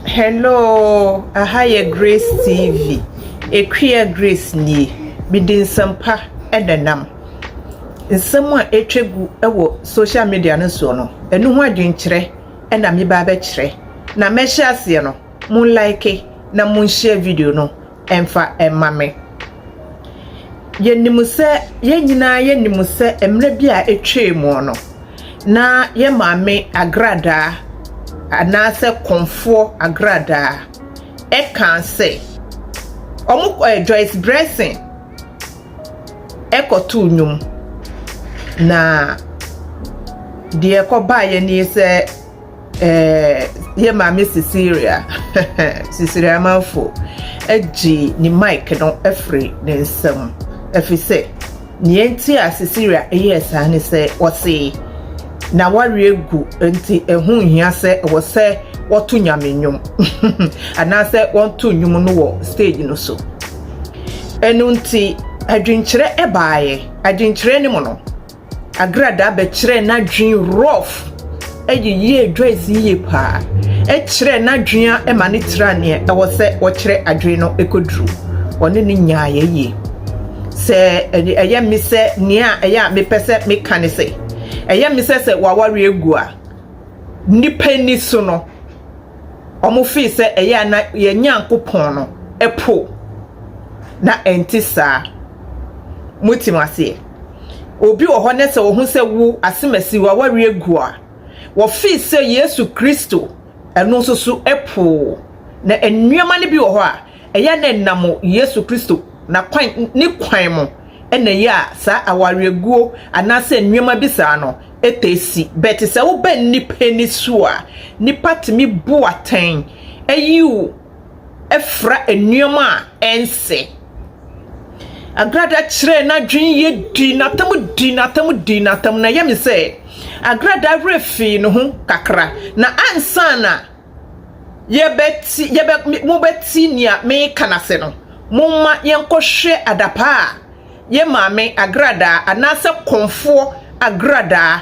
Hello aha yɛ grace TV Akua grace nie mede nsɛm pa na ɛnam nsɛm a atwa gu wɔ social media no soɔ no ɛno ho adwenkyerɛ na meba abɛkyerɛ na mɛhyɛ aseɛ no mo like na mo nhyɛ video no mfa mma me. Yɛnim sɛ, yɛn nyinaa yɛnim sɛ mmerɛ bi a atwaa mu no, na yɛn maame agradaa anaasɛ kɔmfoɔ agradaa ɛkaa sɛ, wɔn ɛ Joyce Bressing ɛkɔtoo nnwom na deɛ ɛkɔbaeɛ nie sɛ, Eh, yɛ maame Cecilia Cecilia Amanfo agye ne mic no afiri ne nsam ɛfiri sɛ nea nti a Cecilia ɛyɛ saa ne sɛ wɔse na wareɛ gu nti ɛho nhia sɛ ɛwɔ sɛ wɔto nyame nnwom anaasɛ wɔnto nnwom no wɔ stage no so ɛno nti adwenkyerɛ ɛbaeɛ adwenkyerɛ no mu no Agradaa bɛkyerɛɛ n'adwene rough. Ɛyɛ yie Joyce yie paa. Ɛkyerɛɛ n'adwene a ɛma ne tra neɛ ɛwɔ sɛ wɔkyerɛ adwene no ɛkɔduru. Ɔne ne nyaa yɛ yie. Sɛ ɛyɛ me sɛ nea ɛyɛ a mepɛ sɛ meka ne sɛ ɛyɛ me sɛ sɛ waware agu a nnipa ani so no wɔn fee sɛ ɛyɛ a na yɛn Nyankopɔn no ɛpo na ɛnte saa. Motim aseɛ? Obi wɔ hɔ nɛ sɛ ɔhu sɛ wo asemasi w'aware agu a, wɔfee sɛ Yesu Kristo ɛno nso so poo. Na nneɛma no bi wɔ hɔ a ɛyɛ na ɛnam Yesu Kristo n'akwan ne kwan mu na ɛyɛ a saa awareɛguo anaasɛ nneɛma bi saa no taa si. Bɛte sɛ woba nnipa ani so a, nnipa tumi bu atɛn yiw fra nneɛma a ɛnsɛ. Agrada kyerɛɛ n'adwene yie dii n'atam dii n'atam dii n'atam na ɛyɛ me sɛ Agrada werɛ fii ne ho kakra na ansa na yɛbɛti yɛbɛ mobɛti nea meka no ase no momma yɛnkɔhwɛ adapaa a yɛ maame Agradaa anaasɛ kɔmfoɔ Agradaa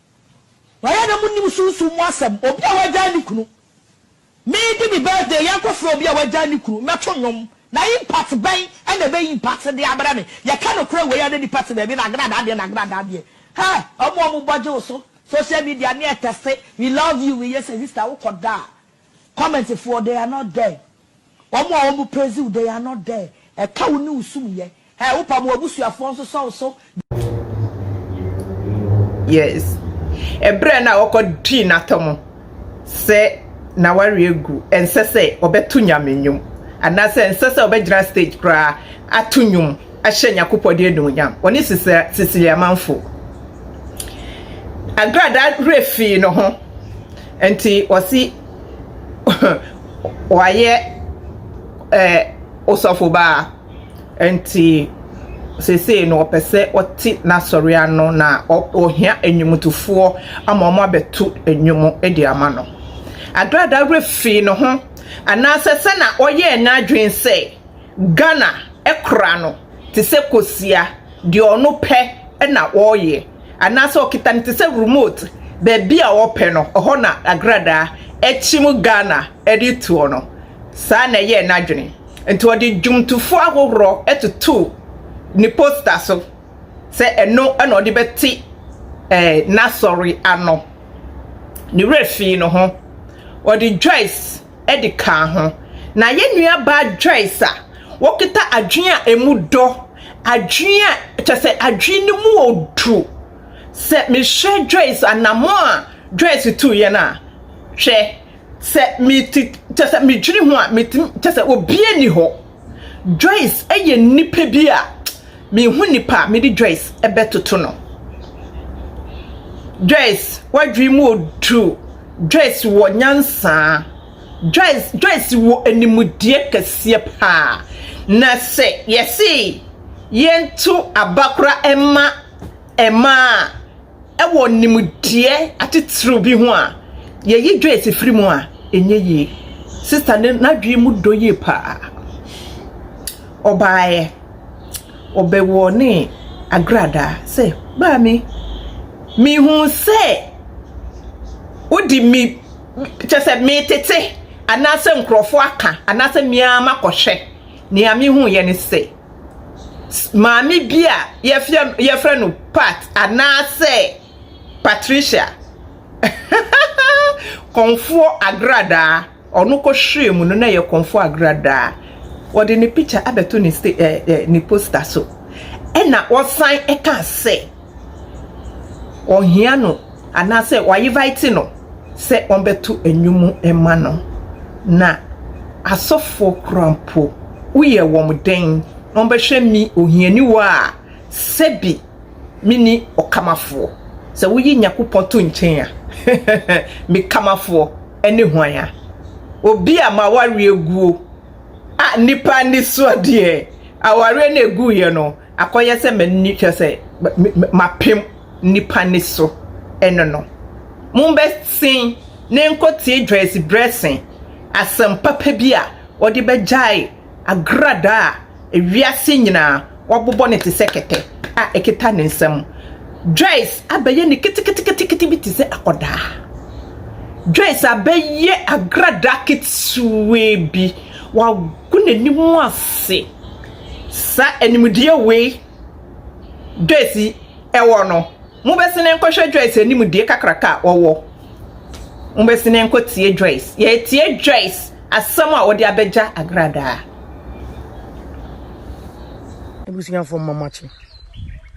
Wayɛ na mo nnim sunsum mu asɛm obi a wagyae ne kunu me di me birthday yɛn kɔ frɛ obi a wagyae ne kunu mɛ to nnwom na impact bɛn ɛna ɛbɛ impact de abrɛ me yɛ ka nokorɛ wei a na nipa te baabi nagradaa deɛ nagradaa deɛ hɛ ɔmo ɔmo bɔ gye wo so social media ne ɛtɛse we love you we yɛ sɛ sister wo kɔ da a comment foɔ they are not there ɔmo a ɔmo praise wo they are not there ɛka wo ne wo sum yɛ Hey wo pam wabusuafoɔ nso sɔw so bi. Yes ɛbrɛ no a ɔkɔ twi natɔ mo sɛ na wari agu ɛnsɛ sɛ ɔbɛto nyame nnwom anaasɛ ɛnsɛ sɛ ɔbɛgyina stage koraa ato nnwom ahyɛ nyakopɔ de anuonyam ɔne sisili amanfo agrada werɛ fii no ho nti ɔsi wayɛ ɛɛ osɔfo baa Enti seesei no ɔpɛ sɛ ɔte n'asɔre ano na ɔhia nnwomtofoɔ ama wɔn abɛto nnwom de ama no. Agrada werɛ fii ne ho anaasɛ sɛ na ɔyɛɛ n'adwene sɛ Ghana kora no te sɛ kosua, deɛ ɔno pɛ na ɔyɛ, anaasɛ ɔkita no te sɛ remote, baabi a ɔpɛ no ɛhɔ na Agrada kyim Ghana de toɔ no. Saa na ɛyɛɛ n'adwene. Nti ɔde dwomtofo ahohorɔ totoo ne posta so sɛ ɛno na ɔde bɛte eh, n'asɔre ano. Ne werɛ fii no ho. Ɔde Joyce de kaa ho. Na yɛn nuabaa Joyce a wɔkita adwene a emu dɔ, adwene a kyɛ sɛ adwene no mu odu. Sɛ mehwɛ Joyce anamɔ a Joyce tu yɛn a, hwɛ, Sɛ mete kyɛ sɛ medwene ho a metumi kyɛ sɛ obiara ni hɔ. Joyce yɛ nipa bi a mehu nipa a mede Joyce ɛbɛtoto no. Joyce wadwene mu odu. Joyce wɔ nyansa. Joyce Joyce wɔ animdeɛ kɛseɛ paa. Na sɛ yɛse yɛnto abakora ɛma ɛma a. wɔ nimdeɛ atitiriw bi ho a, yɛyi Joyce firi mu a, ɛnyɛ yie. Sista no, n'adwene mu dɔ yie paa. Ɔbaeɛ, ɔbɛwɔ ne agradaa sɛ, Maame, mehu sɛ wodi me, kyɛ sɛ metete anaasɛ nkurɔfoɔ aka anaasɛ me ara makɔhwɛ. Nea mehuiɛ ne sɛ. maame bi a yɛfrɛ yɛfrɛ no Pat anaasɛ Patricia. kɔnfoɔ agradaa ɔno kɔhwere mu no na ɛyɛ kɔnfoɔ agradaa wɔde ne picture abɛto ne sta ɛɛ ne poster so ɛna wɔsan ɛka sɛ. ɔhia no anaasɛ wɔayevaete no sɛ ɔmbɛto ndwom mma no. Na asɔfoɔ koraa mpo, woyɛ wɔn dɛn na wɔbɛhwɛ me ohiani wɔ a sɛbi menni ɔkamafoɔ? Sɛ woyi Nyakopɔn to nkyɛn a, me kamafoɔ ne hwan a? Obi a m'awareɛ guo a nnipa ani soɔ deɛ awareɛ no a ɛguiɛ no, Akɔyɛ sɛ m'ani kyerɛ sɛ mapem nnipa nne so no no, mommɛsen na enkotie Joyce Bressing asɛm papa bi a ɔde bɛgyae agradaa a wiase nyinaa wɔabobɔ no te sɛ kɛtɛ a ekita ne nsam. Joyce abɛyɛ ne keteketekete bi te sɛ akɔdaa. Joyce abɛyɛ agradaa ketewaa bi, wagu n'anim ase. Saa nimdeɛ wei Joyce wɔ no, mobɛsene nkɔhwɛ Joyce anim deɛ kakraka a ɔwɔ. Mobɛsene nkɔtie Joyce. Yɛretie Joyce asɛm a ɔde abɛgya agradaa. Abusuafoɔ mma makye.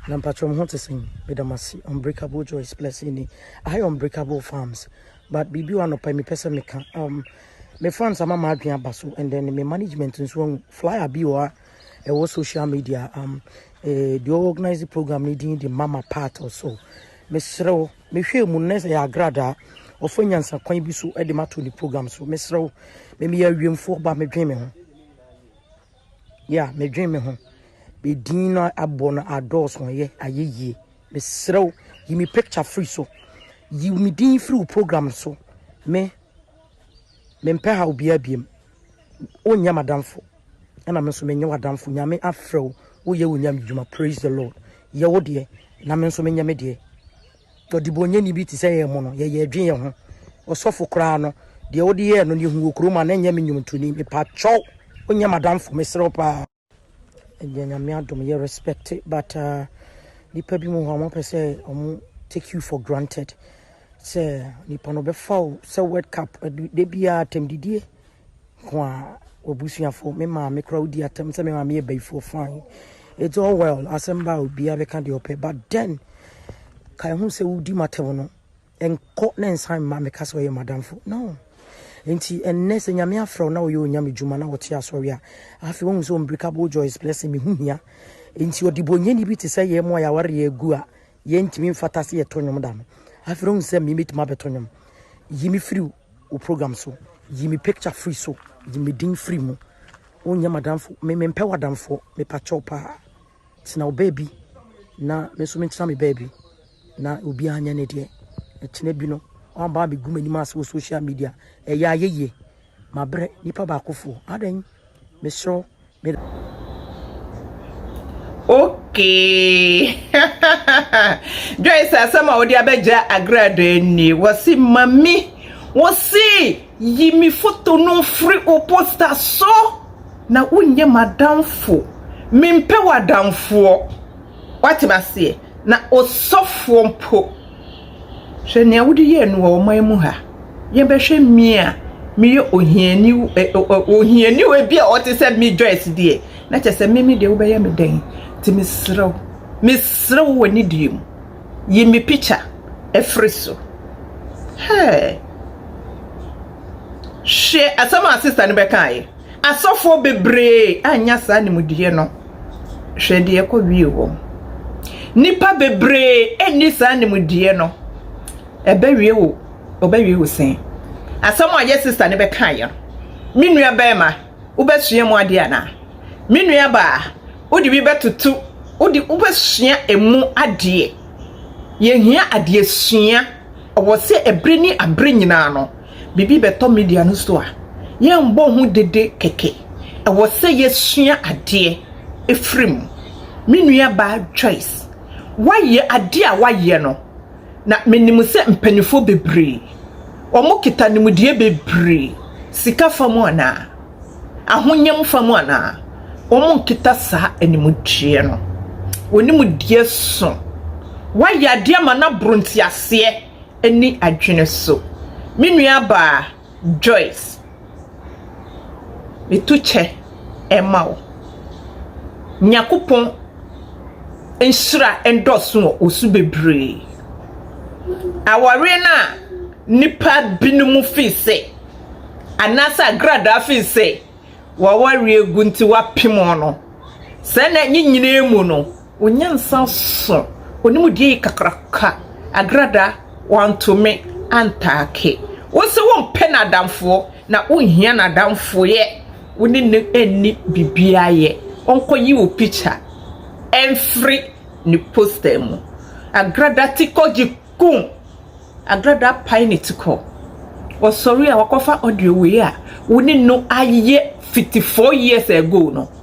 Na mpatwɔ mo ho te sɛn? Meda mo ase. Unbreakable Joyce Blessing ni. Aha yɛ Unbreakable Farms. But biribi wɔ anɔpa yi mepɛ sɛ meka. Um, Me fans ama m'adwene aba so and then me management nso ahu flyer bi wɔ ha ɛwɔ social media um eh, deɛ ɔwɔ organize program no din de mama part or so mesrɛ wo mehwɛ mu na sɛ yɛ agradaa ɔfa nyansa kwan bi so de mato ne program so mesrɛ wo me meyɛ awiemfoɔ ba medwen me ho ya medwen me ho medin no abɔ no adɔɔso yɛ ayɛ yie mesrɛ wo yi me picture firi so yi me din firi wo program so me Mempɛ haw biaa biom. Wonyɛ m'adamfo ɛna me nso menyɛ w'adamfo. Nyame afrɛ wo, woyɛ wo Nyame dwuma. Praise the Lord. Yɛ wo deɛ na me nso menyɛ me deɛ. Ɔdebɔnyɛni bi te sɛ yɛn mo no, yɛyɛ dwen yɛn ho. Ɔsɔfo koraa no, deɛ wode yɛɛ no no, yɛhu wɔ kurom a na ɛnyɛ me nnwontoni. Mepakyɛw, wonyɛ m'adamfo, mesrɛ wo paa. Ɛndeɛ Nyame adom yɛ respect but uh, nipa bi mu hɔ a wɔn pɛ sɛ wɔn take you for granted sɛ nipa no bɛfa o sɛ world cup de biara atɛm didie nko a wɔbusuafo me maame koraa wodi atɛm sɛ me maame yɛ bayifoɔ fine it's all well asɛm ba a obiara bɛka deɛ ɔpɛ but then ka ɛho sɛ wodi matɛm no Nkɔ na nsan mma me ka sɛ ɔyɛ m'adamfo. No. Enti ɛnnɛ sɛ Nyame afrɛ wo na woyɛ Onyame dwuma na wote asɔre a, afei woahu sɛ unbreakable joy is blessing, me ho hia. Enti ɔdebɔnyɛni bi te sɛ yɛn mu a yɛaware yɛn agu a yɛntumi mfata sɛ yɛtɔ nnwom da no, afei na wohu sɛ me mɛtumi abɛtɔ nnwom. Yi me firi wo program so, yi me picture firi so, yi me din firi mu. Wonyɛ m'adamfo, me mempɛ w'adamfoɔ, mepakyɛw paa. Tena wo baabi na me nso mentena me baabi na obiara nyɛ ne deɛ. Ɛkyena bi no, woaba abɛgu m'anim ase wɔ social media. Ɛyɛ ayɛyie. Mabrɛ nipa baakofoɔ. Adɛn? Mesrɛ me. Okay. Joyce asɛm a wode abɛgya agradaa nie. Wɔse mami. Wɔse. Yi me foto no mfiri wo posta so na wonyɛ m'adamfo. Mempɛ w'adamfoɔ. Woate me aseɛ? Na osɔfoɔ mpo, hwɛ nea wode yɛɛ no wɔ ɔman mu ha. Yɛbɛhwɛ me a meyɛ ohiani ohiani o, ebi a ɔte sɛ me Joyce deɛ, na kyerɛ sɛ me me deɛ wobɛyɛ me dɛn? Nti mesrɛ wo, mesrɛ wo wɔ anidie mu. Yi me pikya firi so. Hey! Hwɛ asɛm a sista no bɛkaeɛ. Asɔfoɔ bebree annya saa animdeɛ no. Hwɛ deɛ ɛkɔ wie wɔm. Nnipa bebree nni saa animdeɛ no. Ɛbɛwie wo, ɔbɛwie wo sɛn? Asɛm a yɛ sista no bɛkaeɛ no, me nua bɛrima, wobɛsua mu adeɛ anaa? Me nua baa, wode bi bɛtoto, wode wobɛsua emu adeɛ. Yɛhia adeɛ sua. Ɛwɔ sɛ ɛberɛ ne aberɛ nyinaa no, biribi bɛtɔ media no so a, yɛmbɔ ho dede kɛkɛ. Ɛwɔ sɛ yɛsua adeɛ ɛfiri mu. Me nua baa Joyce, woayɛ adeɛ a woayɛ no, Na menim sɛ mpaninfoɔ bebree, wɔkita nimdeɛ bebree, sika fa mu anaa, ahonyam fa mu anaa, wɔnkita saa animdeɛ no. Wɔn nimdeɛ so. Woayɛ adeɛ ama no aboro nteaseɛ ne adwene so. Me nuabaa. Joyce, metu kyɛ ɛma wo. Nyankopɔn nhyira ndɔso wɔ wo so bebree. Awareɛ no a nnipa binom fii se anaasɛ agradaa fii se w'awareɛ gu nti w'apem wɔn no, sɛ na ne nyinaa mu no, Onyansa so onimdeɛ yi kakraka agradaa wantumi antaake wo sɛ wompɛ n'adamfoɔ na wonhia n'adamfoyɛ wo ne no nni biribiara yɛ ɔnkɔyi wo picture mfiri ne poster mu agradaa ti kɔ gye kum agradaa apae ne ti kɔ ɔsɔre a wakɔfa audio wei a wo ne no ayɛ fiti four years ago no.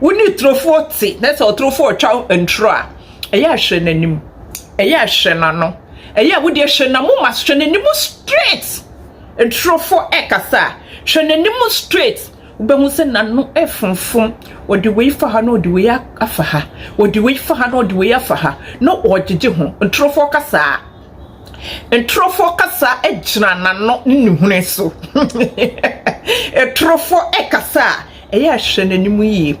wo ne turofoɔ te na sɛ ɔturofoɔ retwa nturo a ɛyɛ a hwɛ n'anim ɛyɛ a hwɛ n'ano ɛyɛ a wodeɛ hwɛ n'amoma so hwɛ n'anim straight nturofoɔ ɛkasa a hwɛ n'anim straight wobɛhu sɛ n'ano ɛfonfom ɔde wei fa ha na ɔde wei afa ha ɔde wei fa ha na ɔde wei afa ha na ɔgyegye ho nturofoɔ kasaa nturofoɔ kasa gyina n'ano ne ne hunu so nturofoɔ ɛkasa a Ɛyɛ a hwɛ n'anim yie.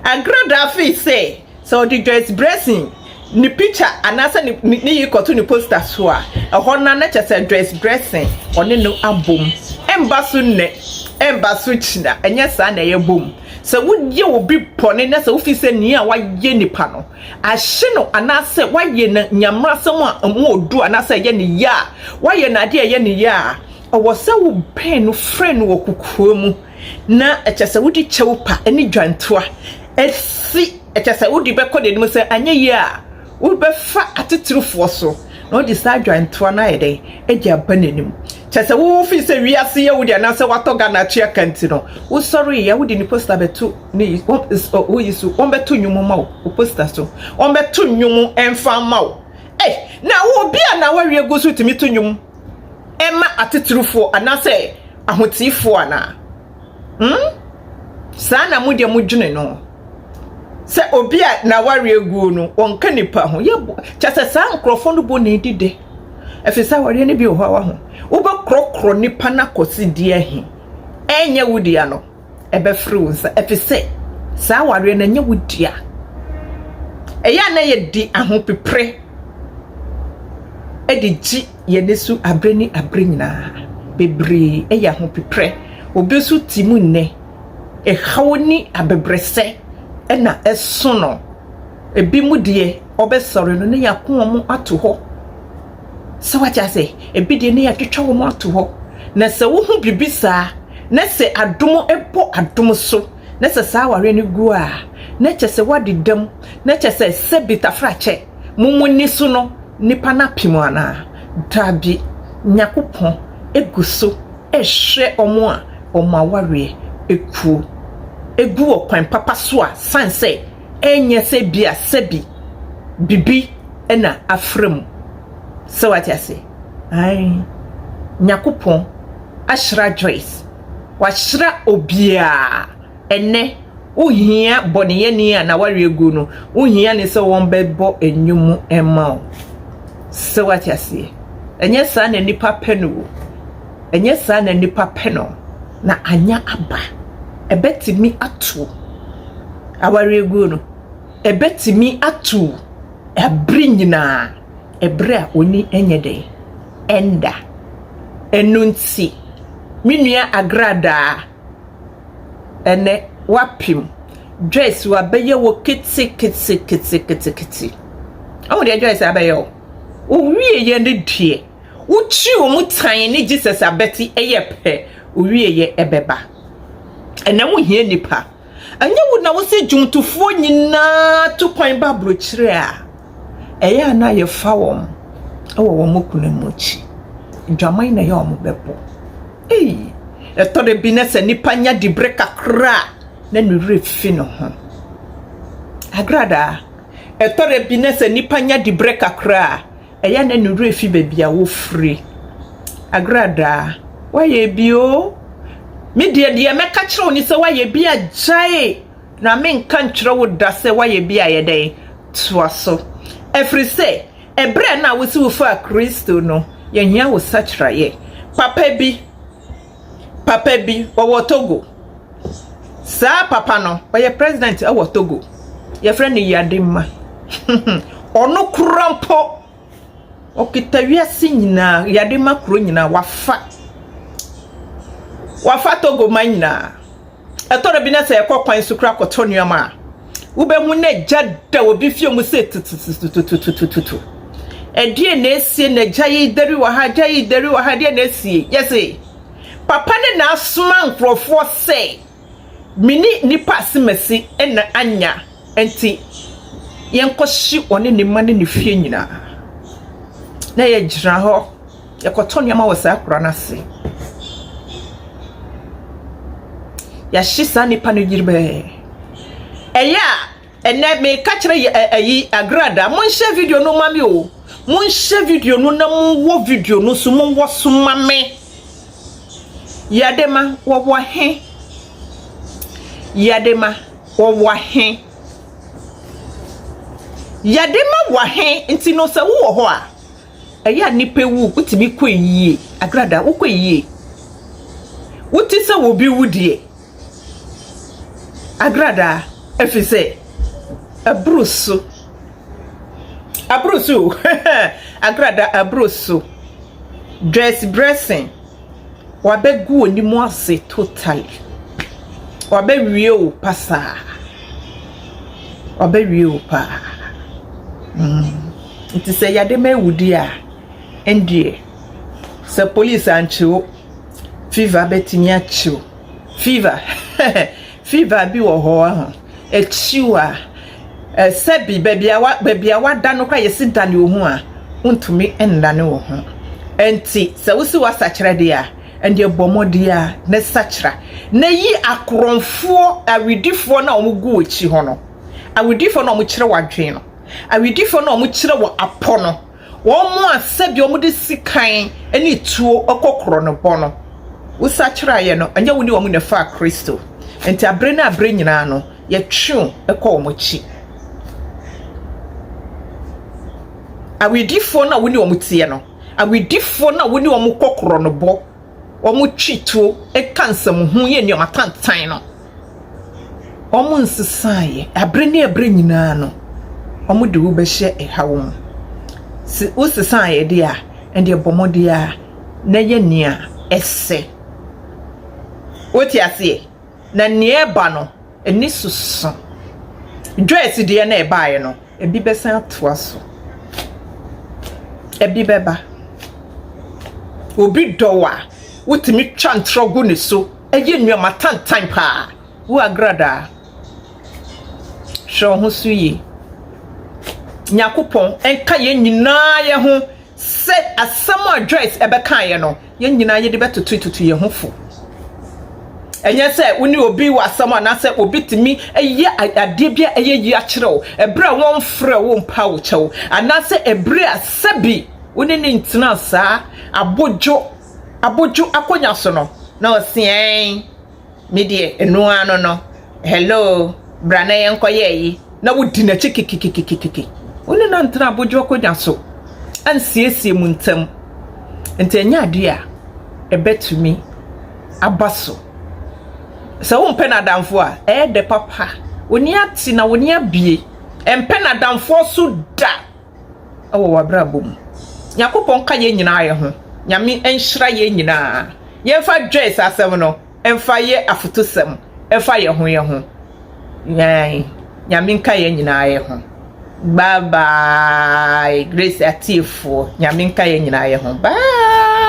Agorɔ do afei sɛ, sɛ ɔde Joyce Bressing ne picture anaasɛ ne ne ne yi kɔto ne poster so a, ɛhɔ no ara na kyɛ sɛ Joyce Bressing ɔne no abom. Ɛmba so nnɛ, ɛmba so kyena, ɛnyɛ saa na ɛyɛ bom. Sɛ woyɛ obi bɔne na sɛ wofi sɛ nea wayɛ nipa no ahye no anaasɛ wayɛ no nea mmrasɛm a ɛmu ɔdu anaasɛ ɛyɛ ne ya a, wayɛ no adeɛ a ɛyɛ ne ya a, ɛwɔ sɛ wobɛn no frɛ no wɔ kokoa mu. Na kyerɛ sɛ wode kyɛw pa ne dwantoa asi, kyerɛ sɛ wode bɛkɔ deɛ anim sɛ anyɛ yie a wobɛfa atitirifoɔ so na wode saa dwantoa no ayɛ dɛn de aba n'anim. Kyerɛ sɛ wo firi sɛ wiase yɛ wo deɛ anaasɛ watɔ Ghana atua ka nti no, wosɔre yɛ a wode ne posta bɛto ne wo yi so, wɔbɛto nnwom ma wo wo posta so, wɔbɛto nnwom mfa ma wo. Ei, na obi a na wawie gu so tumi to nnwom. ɛma atitirifoɔ anaasɛ ahoteefoɔ anaa? Hmm? Saa na mo deɛ modwene no. Sɛ obi a n'awareɛ aguo no, wɔnka nipa ho. Yɛbɔ kyɛ sɛ saa nkurɔfoɔ no bɔ na edi dɛ. Ɛfiri sɛ awareɛ no bi wɔ hɔ a waho. Wobɛkorɔkorɔ nipa no akɔsi deɛ he? Ɛnyɛ wo dea no. ɛbɛfere wo nsa efisɛ saa awareɛ no ɛnyɛ wo dea. Ɛyɛ a na yɛde ahopepere de gye yɛn ani so abere ne abere nyinaa. Bebree ɛyɛ ahopepere. Obi nso te mu nnɛ, ɛhaw ne abɛbrɛsɛ ɛna ɛso no. Ebi mu deɛ ɔbɛsɔre no na yɛako wɔn ato hɔ. So wate ase? Ebi deɛ ne yɛatwitwa wɔn ato hɔ. Na sɛ wohu biribi saa, na sɛ adom bɔ adom so, na sɛ saa awareɛ no gu a, na kyɛ sɛ woadeda mu, na kyɛ sɛ sɛbi tafrakyɛ mo mo ani so no, nnipa no ape mo anaa? Dabi. Nyankopɔn gu so rehwɛ wɔn a wɔn awareɛ kuo. Egu wɔ kwan papa so a, sane sɛ. ɛnyɛ sɛ ebia sɛbi bibi na afra mu. Sɛ wate ase? Ae. Nyakopɔn ahyira Joyce. Wahyira obiaa. Ɛnnɛ, wo hia bɔneyɛni a n'aware agu no, wo hia ne sɛ wɔn bɛ bɔ nnwom mma wo. Sɛ wate aseɛ? Ɛnyɛ saa na nnipa pɛ no o. Ɛnyɛ saa na nnipa pɛ no, na anya aba. Ɛbɛtumi ato awareguo no, ɛbɛtumi ato ɛbere nyinaa, ɛbere a ɔni ɛnyɛ dɛn, ɛnda. Ɛno nti, me nua Agradaa, ɛnɛ wapem, Joyce wabɛyɛ wo kete kete kete kete kete. Ɔmo deɛ Joyce abɛyɛ o, owie yɛ ne deɛ. Wo kyiri wɔ mu tan ne Jesus abɛti ɛyɛ pɛ owie yɛ ɛbɛba ɛnɛ wo hia nipa ɛnyɛ wo na wo sɛ dwomtofoɔ nyinaa to kwan ba brokyire a ɛyɛ a na yɛ fa wɔn ɛwɔ wɔn mokuna mu akyi dwaman na ɛyɛ wɔn bɛbɔ ei ɛtɔre bi na sɛ nipa nya di bere kakra na ne wura fi ne ho agradaa ɛtɔre bi na sɛ nipa nya di bere kakra Ɛyɛ na ne werɛ fi baabi a wofiri. Agradaa, woayɛ bi o. Me deɛ deɛ mɛka kyerɛ wo ne sɛ woayɛ bi a gyae na menka nkyerɛ wo da sɛ woayɛ bi a yɛ dɛn toa so. Ɛfiri sɛ ɛberɛ na wose wofaa Kristo no yɛhia wo sakyeraeɛ papa bi. Papa bi ɔwɔ Togo. Saa papa no, ɔyɛ president wɔ Togo. Wɔfrɛ no Yadi Ma. Ɔno kura mpo, ɔkita wiase nyinaa, Yadi Ma kuro nyinaa, wafa. Wafa Togo man nyinaa. Ɛtɔ da bi na sɛ yɛkɔ kwan so kura kɔtɔ nneɛma a, wobɛhu na agya da obi fie mu sɛ tutututututututu. Ɛdeɛ na esie na agya yi deri wɔ ha, agya yi deri wɔ ha, ɛdeɛ na esie. Yɛse, papa ne na asoma nkurɔfoɔ sɛ, me ne nipa asemasi na anya, nti yɛnkɔhye ɔne ne mma ne ne fie nyinaa. Na yɛgyina hɔ. Yɛkɔtɔ nneɛma wɔ saa akura no ase. Yɛahye saa nnipa no dwerebɛɛ. Ɛyɛ a, ɛnɛ meka kyerɛ yɛ ɛ ɛyi Agrada, monhyɛ video no ma me o. Monhyɛ video no na monwɔ video no so, monwɔ so ma me. Yɛde ma wɔwɔ he. Yɛde ma wɔwɔ he. Yɛde ma wɔ he nti no sɛ wowɔ hɔ a, ɛyɛ a nnipa wu, wotumi kɔ yie. Agrada, wokɔ yie. Wote sɛ obi wu deɛ. Agrada, ɛfiri sɛ, aburo so. Aburo so o. Agrada, aburo so. Dress dressing. W'abɛgu w'anim ase totally. W'abɛwie wo pasaa. W'abɛwie wo paa. Mm. Nti sɛ yade ma awudi a, ɛndeɛ, sɛ police ankyewo, fever bɛtumi akyew. Fever, Fever bi wɔ hɔ wahu. Ɛkyiw a, sɛbi baabi a wa baabi a wada no koraa yɛsi dane wo ho a, wontumi nnane wo ho. Ɛnti sɛ wosi w'asakyera deɛ a, ɛndeɛ bɔ mmɔden ara na sakyera na yi akorɔmfoɔ awedifoɔ no a wɔn gu w'akyi hɔ no, awedifoɔ no a wɔn kyerɛ w'adwene no, awedifoɔ no a wɔn kyerɛ wɔ apɔ no, Wɔn a sɛdeɛ wɔde sikan ne tuo kɔ korɔnobɔ no, wosakyeraeɛ no, ɛnyɛ wo ne wɔn na ɛfaa Kristo. Enti abere ne abere nyinaa no, yɛtwe wo kɔ wɔn akyi. Awedifoɔ no a wo ne wɔn teɛ no, awedifoɔ no a wo ne wɔn kɔ korɔnobɔ, wɔtwe tuo ka nsɛmhunu yɛ nneɛma tantan no, wɔnsesaeɛ. Berɛ ne berɛ nyinaa no, wɔde wo bɛhyɛ haw mu. Sɛ wosesaeɛ deɛ a, ɛnneɛ bɔ mmɔden ara na yɛ nea ɛsɛ. Wote aseɛ? Na nea ɛreba no, ani so sõ. Joyce deɛ na ɛbaeɛ no, ebi bɛsan atoa so. Ebi bɛba. Obi dɔ wo a, wotumi twa ntorɔ gu ne so. Eyi nnua ma tantan paa. Wo Agradaa, hwɛ wo ho so yie. Nyankopɔn nka yɛn nyinaa yɛ ho sɛ asɛm a Joyce ɛbɛkaeɛ no, yɛn nyinaa yɛde bɛtoto tutu yɛn ho fo. ɛnyɛ sɛ wo ne obi wɔ asɛm anaasɛ obi tumi yɛ adeɛ bi a ɛyɛ yi akyerɛ wo ɛberɛ a wɔmfrɛ wo mpa wo kyɛw anaasɛ ɛberɛ a sɛbi wo ne ne ntena saa abodwo abodwo akonnwa so no, na ɔse ɛɛn, me deɛ ɛno ara no no, hello, bra na yɛnkɔyɛ ayi, na wodi n'akyi kekekekekeke. Wo ne no antena abodwo akonnwa so ansiesie mo ntam. Nti ɛnyɛ adeɛ a ɛbɛtumi aba so. Sɛ wompɛ n'adamfo a, ɛyɛ dɛ papa, wo ani ate na wo ani abue. Ɛmpɛ n'adamfoɔ so da. wɔ w'abrabɔ mu. Nyankopɔn ka yɛn nyinaa yɛ ho. Nyame nhyira yɛn nyinaa. Yɛmfa Joyce asɛm no mfa yɛ afotusɛm mfa yɛn ho yɛn ho. Yɛn Nyame nka yɛn nyinaa yɛ ho. Bye bye Grace atiefoɔ Nyame nka yɛn nyinaa yɛ ho. Bye.